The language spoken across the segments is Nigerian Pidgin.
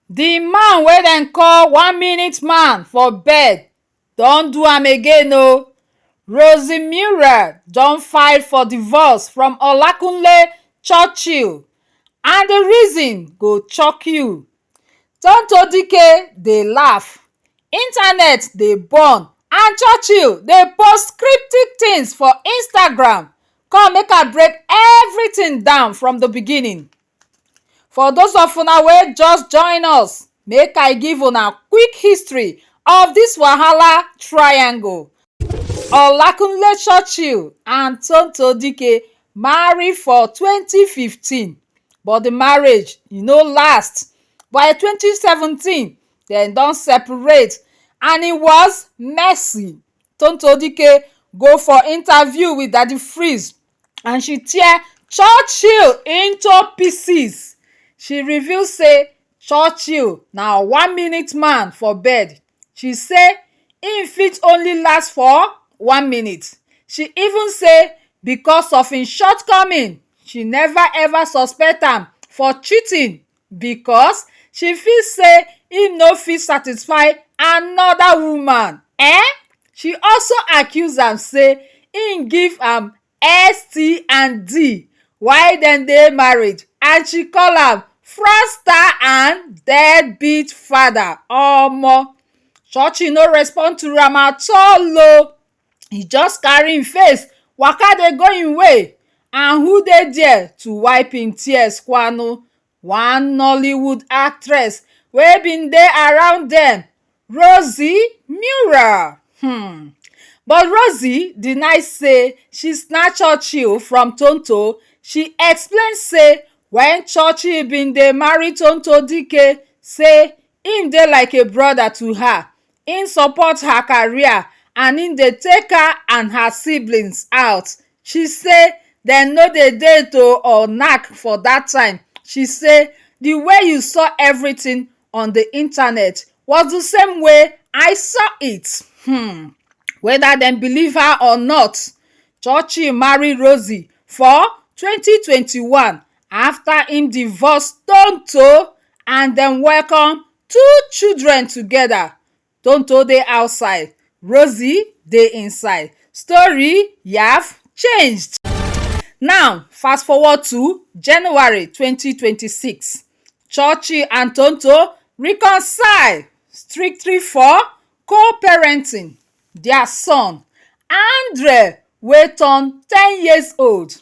The man wey dem call one minute man for bed don do am again o. Rosie Muriel don file for divorce from Olakunle Churchill and the reason go chock you. Tonto Dikeh dey laugh, internet dey burn and Churchill dey post cryptic things for Instagram. Come make I break everything down from the beginning. For those of una wey just join us, make I give una quick history of this wahala triangle. Olakunle Churchill and Tonto Dikeh marry for twenty fifteen but the marriage e no last. By twenty seventeen, dem don separate and it was messy. Tonto Dikeh go for interview with Daddy Freeze and she tear churchill into pieces she reveal say churchill na one minute man for bed she say im fit only last for one minute she even say becos of im shortcoming she neva ever suspect am for cheating. because she feel say im no fit satisfy anoda woman um she also accuse am say im give am ST and D while dem dey marriage and she call am fraudster and dead beat father omo Churchy no respond to am at all o e just carry him face waka dey go him way and who dey there to wipe him tears kwanu one nollywood actress wey been dey around dem Rosie Nura hmm but Rosie deny say she snatch Churchill from Tonto she explain say when Churchill been dey marry Tonto Dikeh say him dey like a brother to her Im support her career and im dey take her and her siblings out. She say dem no dey date o or knack for dat time. She say di way you saw everything on di internet was di same way I saw it. Hmm weda dem believe her or not, Churchill marry Rosie for twenty twenty one afta im divorce Tonto and dem welcome Two children together Tonto dey outside Rosie dey inside Story, Yaf, changed Now, fast forward to January twenty twenty six Churchy and Tonto reconcile strictly for co-parenting their son, Andre wey turn ten years old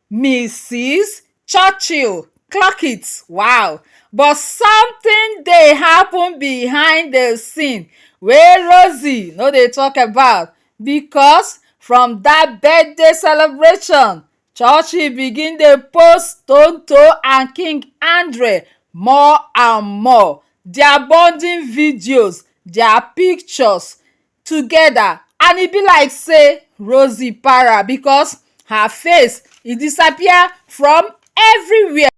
Misis Churchill clock it wow but something dey happen behind the scene wey Rosie no dey talk about because from that birthday celebration Churchill begin dey post Tonto and King Andre more and more. Their bonding videos, their pictures, together and e be like sey Rosie para because her face e disappear from everywhere.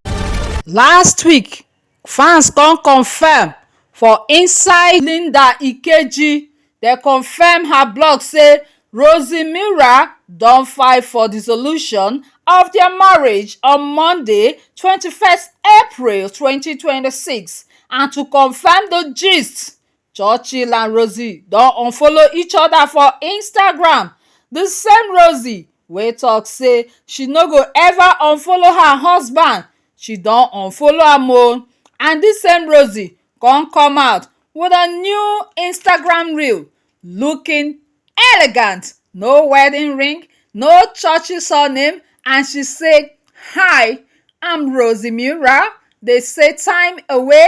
Last week, fans come confirm for inside Linda Ikeji, dem confirm her blog say Rosie Mira don file for dissolution of their marriage on Monday, twenty first April twenty twenty six and to confirm the gist, churchill and rosie don unfollow each other for instagram the same rosie wey talk say she no go ever unfollow her husband she don unfollow am o and this same rosie come come out with a new instagram reel looking elegant no wedding ring no churchill surname and she say hi i'm rosie mura they say time away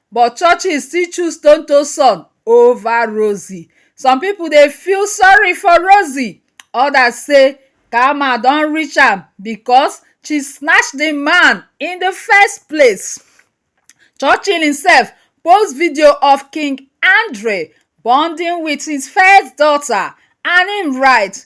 But Churchill still choose Tonto son over Rosie. Some people dey feel sorry for Rosie, others say karma don reach am because she snatch the man in the first place. Churchill himself post video of King Andre bonding with his first daughter and him write,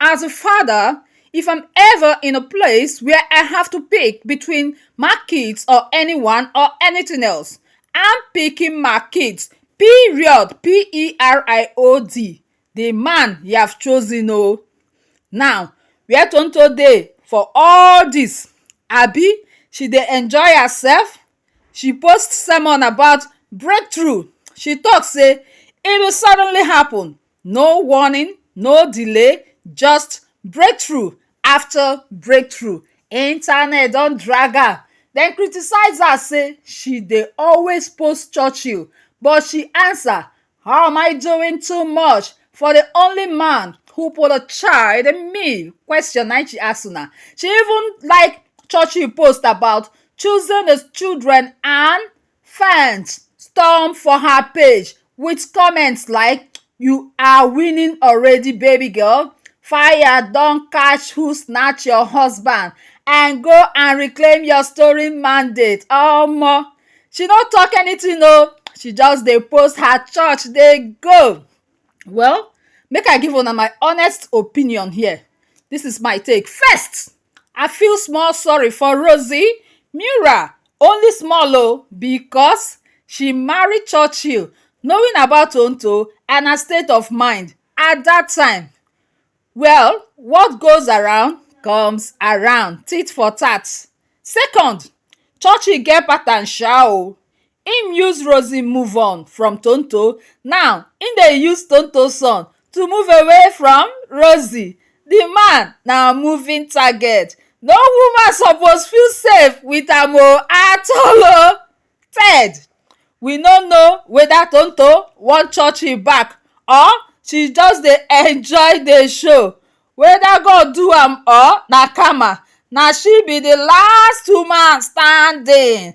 As a father, if I'm ever in a place where I have to pick between my kids or anyone or anything else, I'm picking my kids. Period. P E R I O D. The man you have chosen, oh. Now, where Tonto dey for all this? Abi, she dey enjoy herself? She post sermon about breakthrough. She talk say e will suddenly happen. No warning, no delay, just breakthrough after breakthrough. Internet don drag am, dem criticise her say she dey always post Churchill but she answer how am I doing too much for the only man who put a child in me? Question na im she ask una. She even like Churchill post about choosing his children and Fans storm for her page with comments like you are winning already baby girl, fire don catch who snatch your husband and go and reclaim your story mandate omo. She no talk anything o, she just dey post her church dey go. Well make I give una my honest opinion here, this is my take. First, I feel small sorry for Rosie, Mura, only small o because she marry Churchill knowing about Tonto and her state of mind at that time. Well, what goes around comes around, tit for tat. Second, Churchill get pattern sha o, Im use Rosie move on from Tonto, now im dey use Tonto son to move away from Rosie. Di man na moving target, no woman suppose feel safe with am o at all o. Ted, we no know weda Tonto wan church im back or she just dey enjoy di show, weda God do am or na karma, na she be di last woman standing.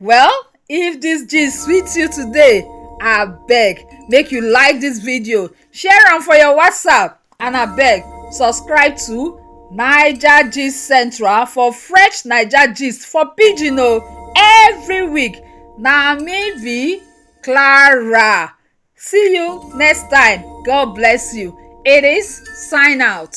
well if this gist sweet you today I beg, make you like this video share am for your whatsapp and I beg, subscribe to naija gist central for fresh naija gist for pidgin o every week na me be clara see you next time god bless you it is sign out.